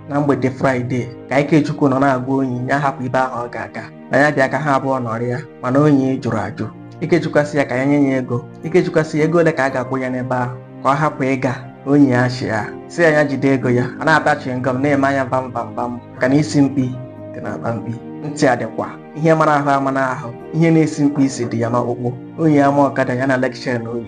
na mgbede fraịde ka ikechukwu nọ na-agwa onyi ya hapụ ebe ahụ ọ ga-aga na ya bịa ka ha abụọ nọrịa mana onyi jụrụ ajụ ikechukwu sị ya ka ya nye ya ego ikechukwu sị ya ego ole ka a ga-akwụ ya n'ebe ahụ ka ọ hapụ ịga onyi achịa sị ya ya jide ego ya ọ na-ata chịngọm na-eme anya vam vam vam maka na isi mkpi dị na akpa mkpi ntị adịkwa ihe mara ahụ ama n'ahụ ihe na-esi mkpi isi dị ya n'ọkpụkpụ onyi ama ọkada ya na lekshọn oyi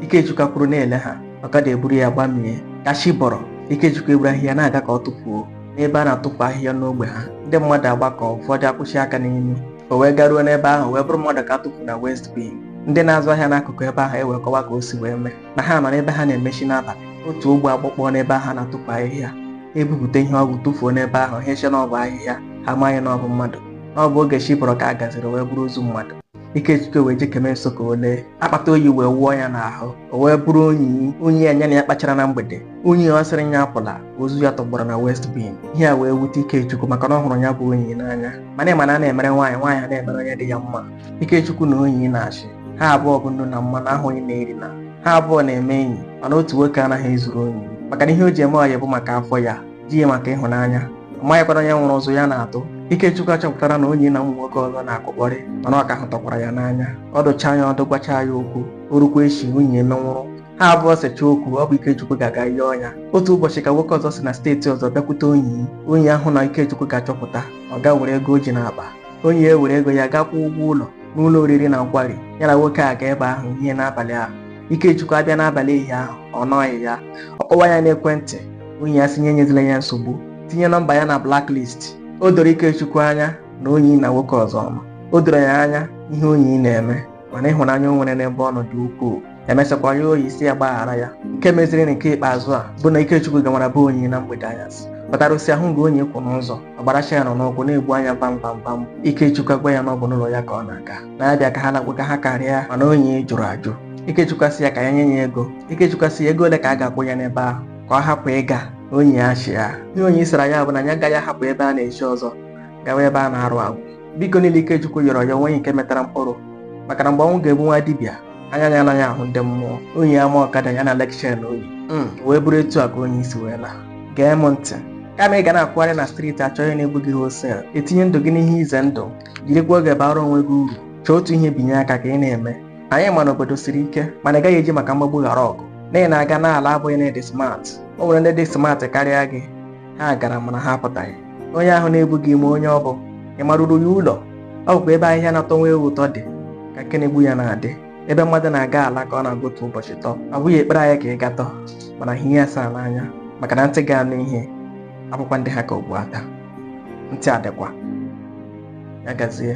ikechukwu kwụrụ na-ele ha ọkada eburu ya gbamie ka chi bọrọ ikechukwu eburu ahịhịa na-aga ka ọ tụfuo n'ebe a na-atụfu ahịhịa n'ogbe ha ndị mmadụ agbakọ ụfọdụ akwụchi aka n'imi o wee garuo n'ebe ahụ wee bụrụ mmadụ ka a tụfuru na waste bin ndị na-azụ ahịa n'akụkụ ebe ahụ ewee kọwa ka o si wee mee na ha nọ n'ebe ha na-emechi n'abalị otu ụgbọ agbakpọ n'ebe ahụ a na-atụfu ahịhịa ebupụta ihe o bu tụfuo n'ebe ahụ ha eche na ọ bụ ahịhịa ha amaghị na ọ bụ mmadụ na ọ bụ oge chi bọrọ ka a gaziri wee bụrụ ozu mmadụ Ikechukwu wee jekeme nso ka o lee akpata oyi wee wụọ ya n'ahụ o wee bụrụ Onyi Onyi a ya na ya kpachara na mgbede Onyi ọ sịrị ya apụla ozu ya tọgbọrọ na waste bin ihe a wee wute Ikechukwu maka na ọ hụrụ ya bụ Onyi n'anya mana ị ma na a na-emere nwaanyị nwaanyị a na-emere onye dị ya mma Ikechukwu na Onyi na-achị ha abụọ bụ nnu na mmanụ ahụ onye na-eri na ha abụọ na-eme enyi mana otu nwoke anaghị ezuru Onyi maka na ihe o ji eme ọyị bụ maka afọ ya di ya maka ịhụnanya amaghịkwara onye nwụrụ ụzụ ya na-atụ Ikechukwu achọpụtara na onyi na ụmụ nwoke ọzọ na-akụkpọrị mana ọ ka hụtakwara ya n'anya ọ dụcha ya ọdụ gwacha ya okwu o rukwa echi onyi emenwụrụ ha abụọ secha okwu ọ bụ Ikechukwu ga-aga ịyọ ya otu ụbọchị ka nwoke ọzọ si na steeti ọzọ bịakwute onyi onyi ahụ na Ikechukwu ga-achọpụta ọ ga were ego o ji n'akpa onyi ewere ego ya ga kwụọ ụgwọ ụlọ n'ụlọ oriri na nkwari ya na nwoke a ga ebe ahụ hie n'abalị ahụ Ikechukwu abịa n'abalị ehihie ahụ ọ nọghị ya ọ kpọwa ya n'ekwentị onyi asị ya enyezila ya nsogbu tinye nọmba ya na blacklist o doro ikechukwu anya na onyi na nwoke ọzọ ma o doro ya anya ihe onyi na-eme mana ịhụnanya o nwere n'ebe ọ nọ dị ukwuu emesịakwa ya onyi sị ya gbaghara ya nke meziri na nke ikpeazụ a bụ na ikechukwu gawara be onyi na mgbede anyasị kpatara o si ahụ nga onyi kwụ n'ụzọ ọ gbara chain n'ụkwụ na-egbu anya vam vam vam ikechukwu agwa ya na ọ bụ n'ụlọ ya ka ọ na-aga na ya bịa ka ha lakpụga ha karịa mana onyi jụrụ ajụ ikechukwu asị ya ka ya nye ya ego ikechukwu asị ya ego ole ka a ga-akwụ ya n'ebe ahụ ka ọ hapụ ịga onyi achịa ihe onyi zara ya bụ na ya agaghị ahapụ ebe a na-echi ọzọ gawa ebe a na-arụ agwụ biko niile Ikechukwu yọrọ ya onweghị nke mịtara mkpụrụ maka na mgbe ọnwụ ga-egbu nwa dibịa anya ya anaghị ahụ ndị mmụọ onyi ama ọkada ya na lekshia na oyi hmm, wee bụrụ etu a ka onyi si wee laa gee m ntị kama ị ga na-akwụgharị na streeti achọ ihe na-egbu gị hustle etinye ndụ gị n'ihe ize ndụ jirikwa oge baara onwe gị uru chọọ otu ihe binye aka ka ị na-eme anyị ma na obodo siri ike mana ị gaghị eji maka mgbagbu ghara ọgụ na ị na-aga na-ala abụghị na ị dị smart o nwere ndị dị smart karịa gị ha gara mana ha apụtaghị onye ahụ na-ebu gị ị ma onye ọ bụ ị maruru ya ụlọ ọ bụkwa ebe ahịhịa na-atọ nwa ewu ụtọ dị ka ihe na-egbu ya na-adị ebe mmadụ na-aga ala ka ọ na-aga otu ụbọchị tọ ọ bụghị ekpere anyị ka ị gaa tọ mana ihe ya saa n'anya maka na ntị ga-anụ ihe abụkwa ntị ha ka okpu ata ntị adịkwa ya gazie